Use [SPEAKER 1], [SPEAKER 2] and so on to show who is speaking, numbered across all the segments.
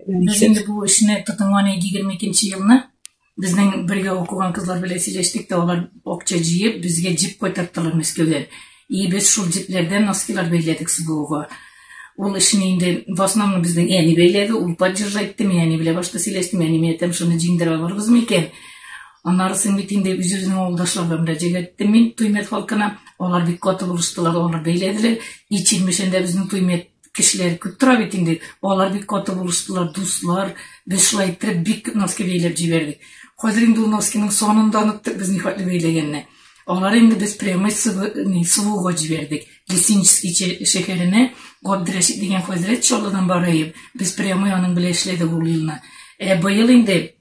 [SPEAKER 1] Без инде бу эшне тотынганны 22 елны безнең бергә укыган кызлар белән сөйләштек тә, алар акча җыеп, безгә җип кайтарттылар Мәскәүдән. И без шул җипләрдән носкилар бәйләдек СБУга. Ул эшне инде в основном безнең әни бәйләде, ул поддержать итте, мин әни белән башта сөйләштем, әни миңа әйтәм, шуны җиңдерә алырбыз микән? Аннары соң бит инде үзебезнең авылдашларга мөрәҗәгать иттем мин Туймет халкына. Алар бик каты булыштылар, алар бәйләделәр. И Чирмешәндә безнең Туймет кешеләр күп тора бит инде. Алар бик каты булыштылар, дуслар. Без шулай иттереп бик күп носки бәйләп җибәрдек. Хәзер инде ул носкиның санын да оныттык без нихәтле бәйләгәнне. Алар инде без прямой сувуга җибәрдек. Лесинческий шәһәренә Габдрәшит дигән хәзрәт Чаллыдан бараеп, без прямой аның белән эшләдек ул елны. Ә быел инде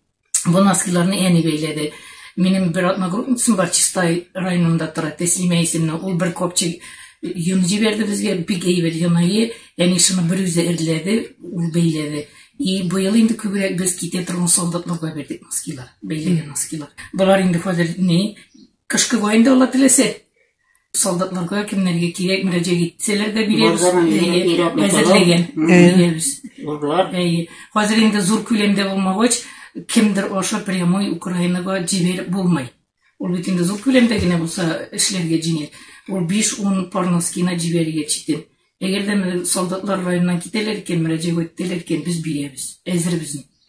[SPEAKER 1] Бу носкиларны әни бәйләде. Минем бер одногруппницам бар, Чистай районында тора, Тәслимә исемле. Ул бер копчик йон җибәрде безгә, бик әйбәт йонайы. Әни шуны бер үзе эрләде, ул бәйләде. И быел инде күбрәк без китә торган солдатларга бирдек носкилар, бәйләгән носкилар. Болар инде хәзер ни, кышкы войнда ала теләсә, Солдатларга кемнәргә кирәк мөрәҗәгать итсәләр дә бирәбез. Әзерләгән. Бирәбез. Урлар. Хәзер инде зур күләмдә булмагач, кемдер аша прямой Украинага җибәреп булмый. Ул бит инде зур күләмдә генә булса эшләргә җиңел. Ул 5-10 пар носкина җибәрергә читен. Әгәр дә солдатлар районнан китәләр икән, мөрәҗәгать итәләр икән, без бирәбез. Әзербез.